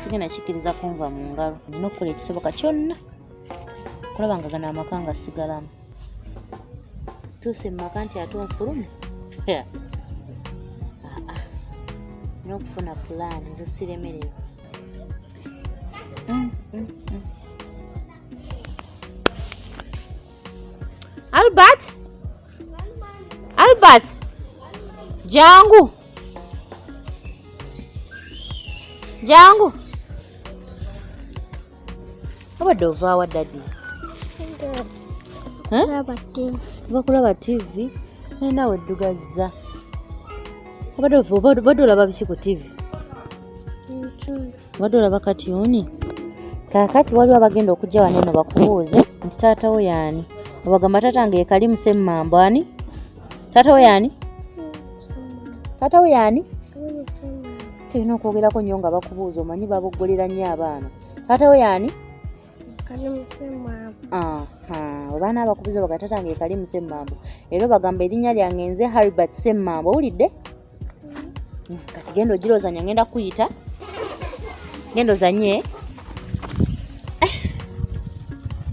nasigenda kikkiriza kunva mu ngalo nina okukola ekisoboka kyonna okulaba nga gano amaka nga sigalamu tuuse mu maka nti ate onfulume n'okufuna pulaani nze siremererwa mm, mm, mm. Albert? Albert? Jangu. Jangu. Obadde ovaawa daddy? Bakulaba TV. Naye nawe oddugazza. Obadde olaba biki ku TV? obadde olaba katiyuni kakati waliwo abagenda okujja wano eno bakubuuze nti taata wo yaani obagamba taata nga yekali musemmambo ani taata wo yaani taata wo yaani kirina okwogerako nnyo nga bakubuuza omanyi baboggolera nnyo abaana taata wo yaani obaana abakubuza bagatata nga ekali musemmambo era obagamba erinnya lyange nze haribert semmambo owulidde kati genda ogirozanya ngenda kuyita genda ozanye eh.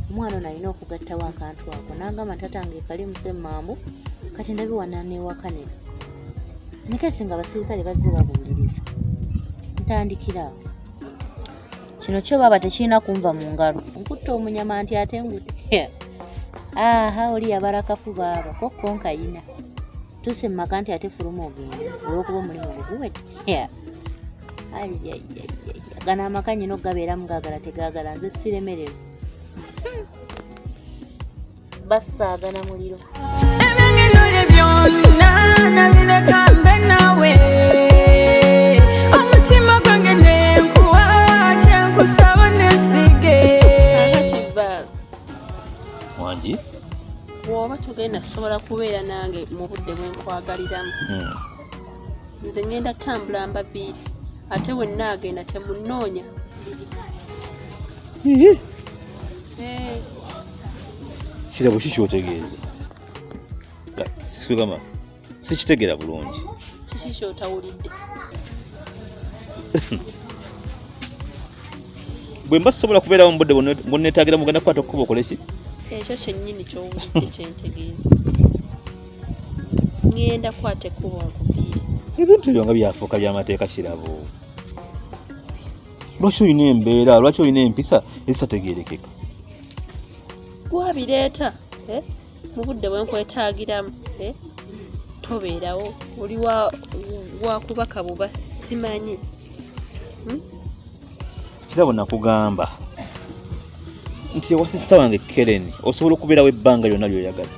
omwana ono alina okugattawo akantu ako nangamba ntatange kali musemambu kati ndabiwananewakanira nekesi nga abasirikale bazze babuuliriza ntandikiraawo kino kyo baaba tekirina kunva mu ngalo nkutta omunyama nti ate ngute aha oli yabarakafu baaba kokkonkayina tuuse mu maka nti ate fuluma ogenda olwokuba omulimu gwe guwedde gano amaka nyina okugabeeramu gaagala tegaagala nze siremererwa hmm. basaagana muliro ebyengenole byonna nabireka mbe naawe omutima gwange nenkuwa kyenkusaba nesige wangi bw'oba togenda sobola kubeera nange mu budde bwe nkwagaliramu hmm. nze ngenda tambula mbaviiri ate we nnaagenda temunnoonya eh. kirabo ki kyotegeeza sikugamba sikitegera bulungi kiki kyotawulidde bwe mba sisobola kubeerawo mubudde bwonetagira mugenda kukwata okukuba okoleki ekyo kyennyini kyowulidde kyentegeeza ngenda kwata ekkubo nkuviire ebintu byo nga byafuuka byamateeka kirabo lwaki olina embeera lwaki olina empisa ezitategerekeka gwabireeta eh? mu budde bwe nkwetaagiramu eh, tobeerawo oli wakubaka buba simanyi hmm? kirabo nakugamba nti ewa sisita wange keren osobola okubeerawo ebbanga lyonna lyoyagadde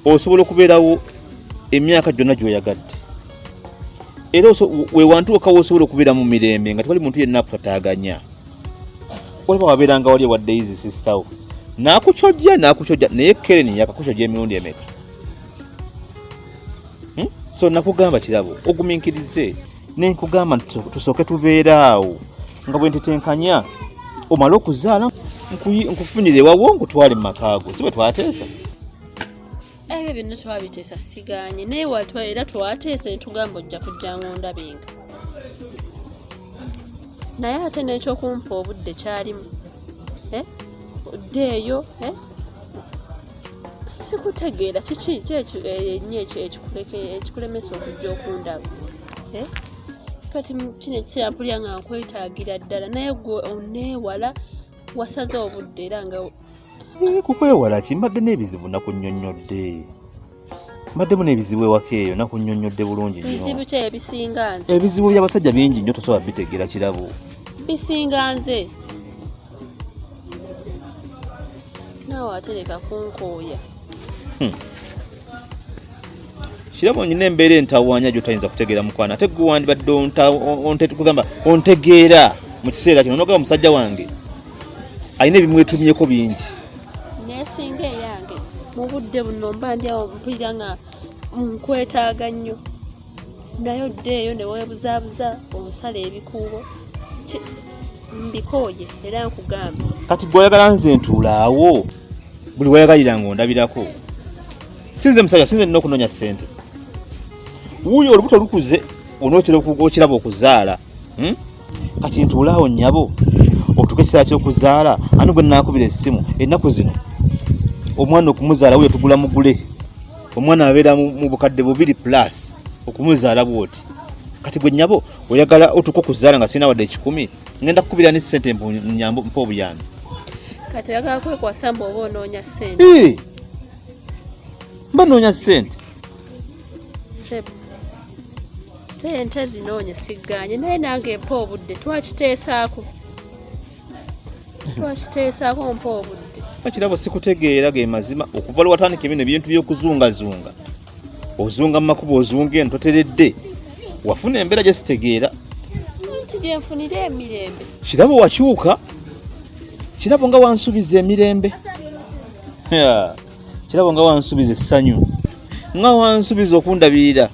osobola okubeerawo emyaka gyonna gyoyagadde era wewantuuka wosobola okubeera mu mirembe nga tewali muntu yenna akutataganya olaba wabeeranga wali ewa daisy sister wo nakukyojja nakukyojja naye keren yakakukyojja emirundi emeka hmm? so nakugamba kirabo oguminkirize nenkugamba nti tusooke tubeeraawo nga bwentetenkanya omale okuzaala nkufunire wawo nkutwale mu makaago si bwe twateesa ebyo byonna twabiteesa siganye naye watwa era twateesa netugamba ojja kujja ng'ondabenga naye ate n'ekyokumpa obudde kyalimu eh? ddeeyo eh? sikutegeera kiki kyenyo eh, ekikulemesa okujja okundaba kati kino ekiseera mpulira nga nkwetaagira ddala naye gwe oneewala wasaze obudde era nga eh, kukwewala ki mbadde n'ebizibu nakunyonnyodde mbaddemu n'ebizibu ewaka eyo nakunyonnyodde bulungi bizibu ki ebisinga nze ebizibu by'abasajja bingi nnyo tosobola bitegeera kirabo bisinga nze naawe atereka kunkooya hmm. kirabo nyina embeera entawaanya gyotayinza kutegeera mukwana ate gwe wandibadde ontgamba ontegeera mu kiseera kino nogamba musajja wange alina ebimwetumyeko bingi nesinga eyange mu budde buno mba ndi awo mpulira nga nkwetaaga nnyo naye oddeeyo ne weebuzaabuza osala ebikuubo mbikooye era nkugambye kati gweoyagala nze ntuulaawo buli wayagalira nga ondabirako sinze musajja sinze nina okunonya sente wuuyo olubuto lukuze onotera okiraba okuzaala hmm? kati ntuulaawo nyabo otuka ekiseera kyokuzaala ani gwe nakubira essimu ennaku zino omwana okumuzaala wuyo tugula mugule omwana abeera mu bukadde bubiri plus okumuzaala bwoti kati gwe nyabo oyagala otuka okuzaala nga sirina wadde ekikumi ngenda kukubira ni sente mpunyambo mpo obuyambi kati oyagala kwekwasa mbu oba onoonya sente ee mba noonya sente sebo sente zinoonye sigganye naye nange mpa obudde twakiteesaako twakiteesaako mpa obudde bakirabo sikutegeera ge mazima okuva lwewatandika ebino ebintu by'okuzungazunga ozunga mumakubo ozunga eno toteredde wafuna embeera gyesitegeera nti gyenfunira emirembe kirabo wakyuka kirabo nga wansubiza emirembe kirabo nga wansubiza essanyu nga wansubiza okundabirira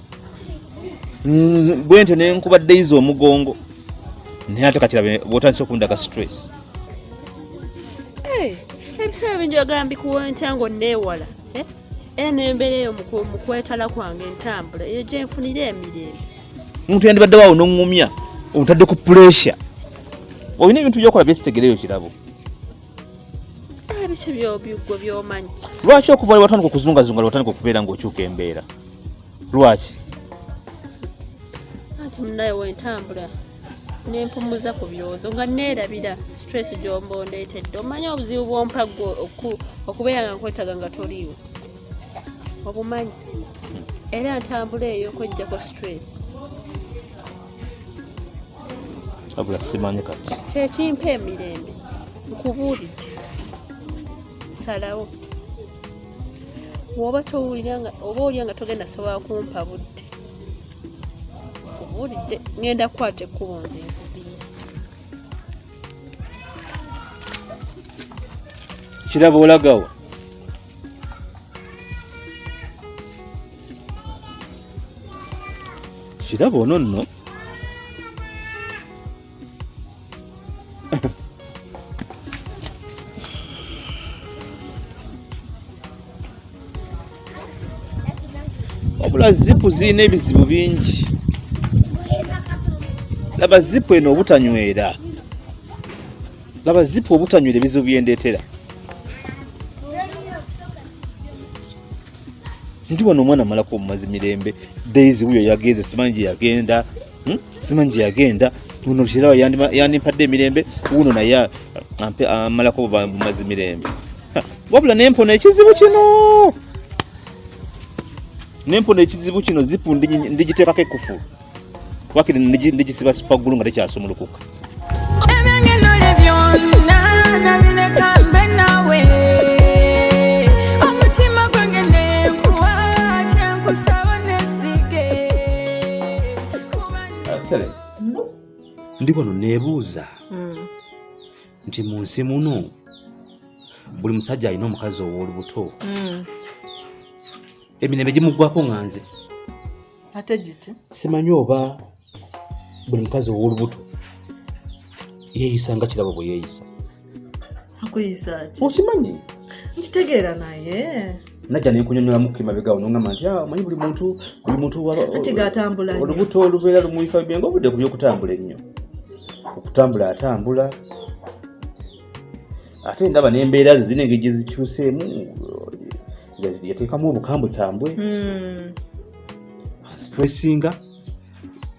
bwe ntyo nenkuba dayiza omugongo naye ate kakirabe bwotandisa okundaga stress ebiseera bingi ogambikuwa ntya ngaonneewala eh? era nembeera eyo mukwetala kwange entambula eyo gyenfunira emirembe omuntu yandibadde waawo noŋumya otadde ku puresya olina ebintu byokola byesitegereyo kirabo ebiki byobigwe byomanyi lwaki okuva lwewatandika okuzungazunga lwewatandika okubeera ngaokyuka embeera lwaki anti munaye wentambula nempumuza ku byozo nga neerabira stress gyomba ondeetedde omanya obuzibu bwompa gwe okubeera nga nkwetaga nga toliiwo obumanyi era ntambula eyo okwejjako stress abula simanyi kati kyekimpa emirembe nkubuulidde salawo woba towulira oba olya nga togenda sobola kumpa budde nkubulidde ngenda kukwata ekkubo nze kiraba olagawa kiraba ono nno wabula zipu zirina ebizibu bingi laba zipu eno obutanywera laba zipu obutanywera ebizibu byendeetera ndi wano omwana amalako omumazi mirembe daisy wuyo yagenze simanyi gye yagenda hmm? simanyi gye yagenda uno lushirawo yandimpadde emirembe uno naye amalako bumazi mirembe wabula nempona ekizibu kino nempona ekizibu kino zipu ndigiteekako ekufulu wakiri ndigisiba supagulu nga tekyasumulukuka ndi wano neebuuza hmm. nti mu nsi muno buli musajja alina omukazi ow'olubuto hmm. emirembe gimuggwako nga nze ate giti simanyi oba buli mukazi ow'olubuto yeeyisa nga kirabo bwe yeeyisa akuyisa ki okimanyi nkitegeera naye najja nenkunyonyolamu kemabega ono ngamba nti ah, omanyi buli muntu buli muntu olubuto olubeera lumuyisa bibyenga obudde ku byokutambula ennyo okutambula atambula ate ndaba nembeera ze zine engeri gyezikyuseemu ya- yateekamu obukambwekambwe Mm. stressinga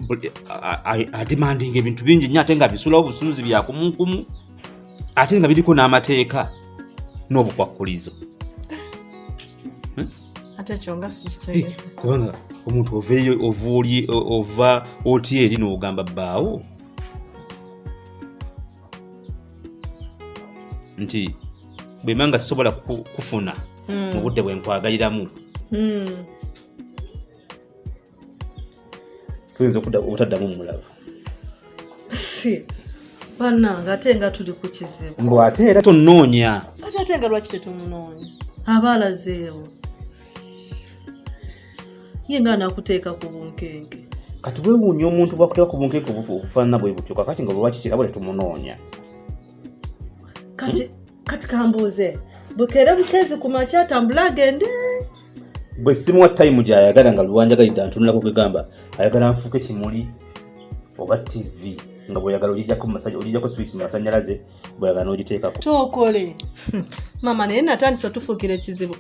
buli- a- a- ademandinga ebintu bingi nnyo ate nga bisulawo busuuzi byakumunkumu ate nga biriko n'amateeka n'obukwakkulizo ate ekyo nga Eh, sikitegedde kubanga omuntu oveeyo ovuuli ova otya eri n'ogamba bbaawo nti bwemba nga sisobola kufuna hmm. mu budde bwe nkwagaliramu hmm. tuyinza obutaddamu mulaba banange ate nga tuli ku kizibu mbu ate era tonoonya kati ate nga lwaki tetumunoonya aba alazeewo ye nga anakuteeka ku bunkenke kati wewuunya omuntu bwakuteeka ku bunkenke okufaanana bwe butyo kakati nga bwewaki kirabo tetumunoonya kati kati kambuuze bukeera bukeezi ku makya atambula agende bwe simuwa tayimu gyayagala nga lwanjagalidde antunulako kwegamba ayagala nfuuke kimuli oba tivi nga bweyagala ogijjako mumasaja ogijjako swiki mumasanyalaze bweyagala n'ogiteekako tokole mama naye natandisa otufuukira ekizibu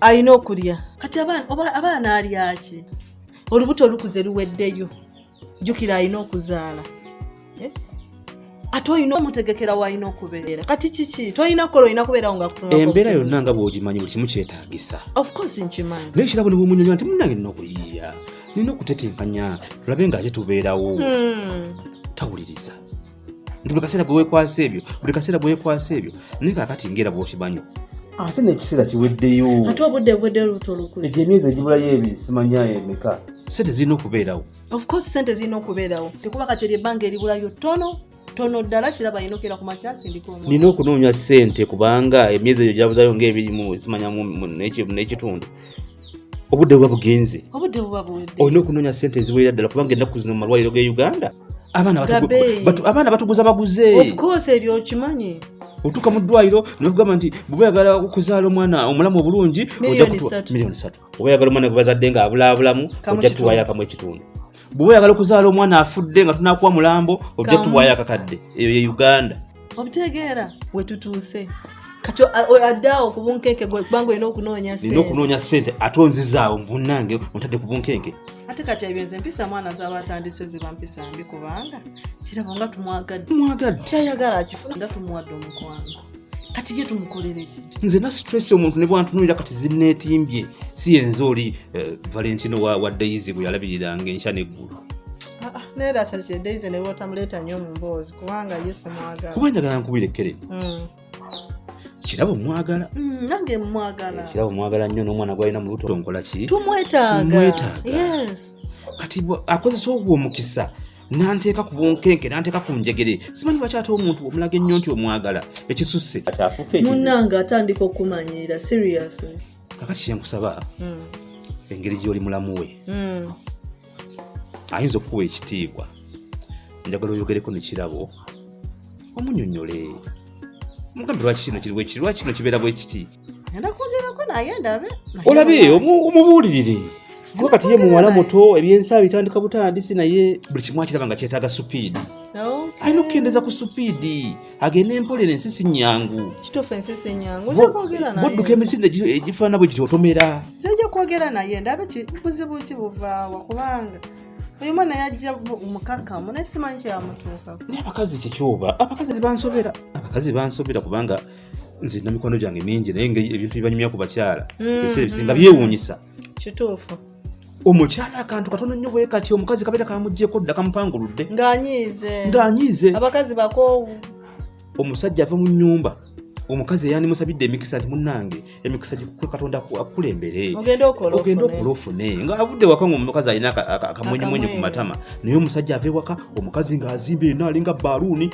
alina okulya kati abaana alyaki olubuto olukuze luweddeyo jukira alina okuzaala eh? ate olina omutegekera walina okubeera kati kiki tolina kukola olina kubeerawo nga embeera yonna nga bwogimanyi buli kimu kyetagisa nkimanyi naye kirabo niwemunyonyo nti munange nina okuyiiya nina okutetenkanya tulabe nga ate tubeerawo hmm. tawuliriza nti buli kaseera gwewekwasa ebyo buli kaseera gwewekwasa ebyo naye kakati ngaera bwokimanyi ate nekiseera kiweddeyo ate obudde bwedde lubuto lukuzi egyo emyezi egibulayo ebiri simanya emeka sente zirina okubeerawo ofcourse sente zirina okubeerawo tekuba kati eryo ebbanga eribulayo tono tono ddala kiraba yina okera ku makyasindiknina okunoonya sente kubanga emyezi egyo gyabuzayo ngaebirimu simanya nekitundu obudde buba bugenze olina okunoonya sente eziwerera ddala kubanga ennaku zino mu malwaliro ge uganda abaana batuguza baguze of course ebyo okimanyi otuuka mu ddwaliro nebagamba nti bweba yagala okuzaala omwana omulamu obulungi miliyoni satu oba yagala omwana gwebazadde nga abulaabulamu ojja tuwayo akamu ekitundu bweba yagala okuzaala omwana afudde nga tunakuwa mulambo ojja tuwayo akakadde eyo ye uganda obitegeera wetutuuse kati addaawo ku bunkenke kubanga olina okunoonya nina okunoonya sente ate onzizaawo munange ontadde ku bunkenke ate kati ebyo nze mpisa mwana zaba atandise ziba mpisa mbi kubanga kirabo nga tumwagadde mwagadde kyayagala akifuna nga tumuwadde omukwano kati gye tumukolere ki nze na stress omuntu ne bwantunulira kati zinneetimbye si yenze oli eh, valentino wa daisy gwe yalabiriranga enkya neggulu ah, ah, naye datakyedaize ne bwotamuleeta nnyo mu mboozi kubanga ye simwagala kuba njagala nkubire kere mm. kirabo mwagala mm, nange mwagala eh, kirabo mwagala nnyo n'omwana gwalina mu luto nkola ki tumwetaagatumwetaaga kati akozesa ogwo omukisa nanteeka ku bunkenke nanteeka ku njegere simanyi lwaki ate omuntu omulaga ennyo nti omwagala ekisusse munange atandika okumanyiira serious kakati kyenkusaba mm. engeri gy'oli mulamu we ayinza okukuwa ekitiibwa njagala oyogereko nekirabo omunyonyole mugambe lwaki kino kiri bwekiri lwaki kino kibeera bwekiti olabe omubuulirire kuba kati ye muwala muto ebyensaa bitandika butandisi naye buli kimu akiraba nga kyetaaga supiidi alina okukendeza ku supiidi agende empolera ensi si nyangu kituufu ensi si nyangu ojja kwogera naye budduka emisinde egifaana bwe giti otomera ojja kwogera naye ndabe buzibu ki buvaawa kubanga oyo mwana yajja mukakkamu naye simanyi kyeyamutuuka naye abakazi kyekyoba abakazi bansobera abakazi bansobera kubanga nze namikwano gyange mingi naye ebintu bibanyumya ku bakyala hmm, ebiseera ebisinga hmm. byewuunyisa kituufu omukyala akantu katono nnyo bwe kati omukazi kabeera kamuggyeko dda kamupanguludde ng'anyiize ng'anyiize abakazi bakoowu omusajja ava mu nnyumba omukazi eyandimusabidde emikisa nti munange emikisa gikukwe katonda akukulembere ogenda okola ofune nga avudde waka nga omukazi alina akamwenyemwenye ku matama naye omusajja ava ewaka omukazi ng'azimba eno alinga baluuni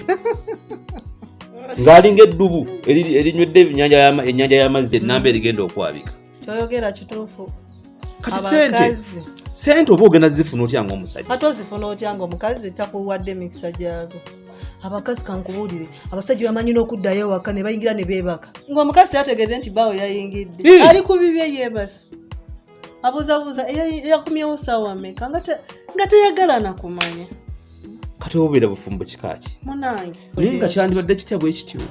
ng'alinga eddubu erinywedde enyanja y'amazzi ennamba erigenda okwabika kyoyogera kituufu kati sente sente oba ogenda zifuna otya nga omusajja kati ozifuna otya nga omukazi takuwadde emikisa gyazo abakazi kankubuulire abasajja bamanyi n'okuddayo ewaka ne bayingira ne beebaka ng'omukazi yategedde nti baawo yayingidde hmm. ali ku bibye yeebasa abuuzabuuza yakumyewo saawa meka nga teyagala nakumanya kati obubeera bufumbo kikaaki naye nga kyandibadde kitya bwe kityo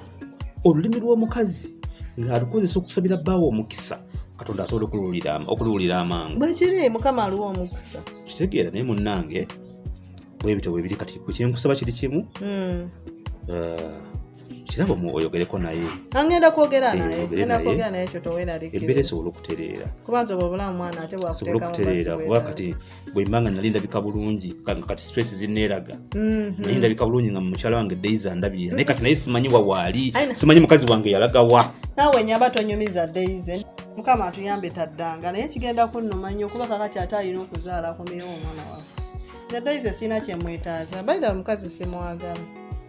olulimi lw'omukazi ng'alukozesa okusabira bbaawo omukisa katonda asobola okuluwulira amangu bwekiri mukama aliwo omukisa kitegeera naye munnange bwebityo bwebiri kati kyenkusaba kiri kimu hmm. eh, kirabo oyogereko naye angenda kwogera eh, nayeogera naye ekyo toweraliembeera esobola okutereera kubanza oba obulamu mwana ate bwakuteeka okutereera kuba kati bwemba nga nali ndabika bulungi nga kati stress zineeraga mhm. naye ndabika bulungi nga mukyala wange days andabirira naye kati naye simanyi wawaali simanyi mukazi wange yalagawa nawe nyaba tonyumiza days mukama atuyambe taddanga naye kigenda kunnuma nnyo kuba kakati ate alina okuzaala ku miyo omwana wafe nadaize sirina kyemwetaaza baithe omukazi simwagala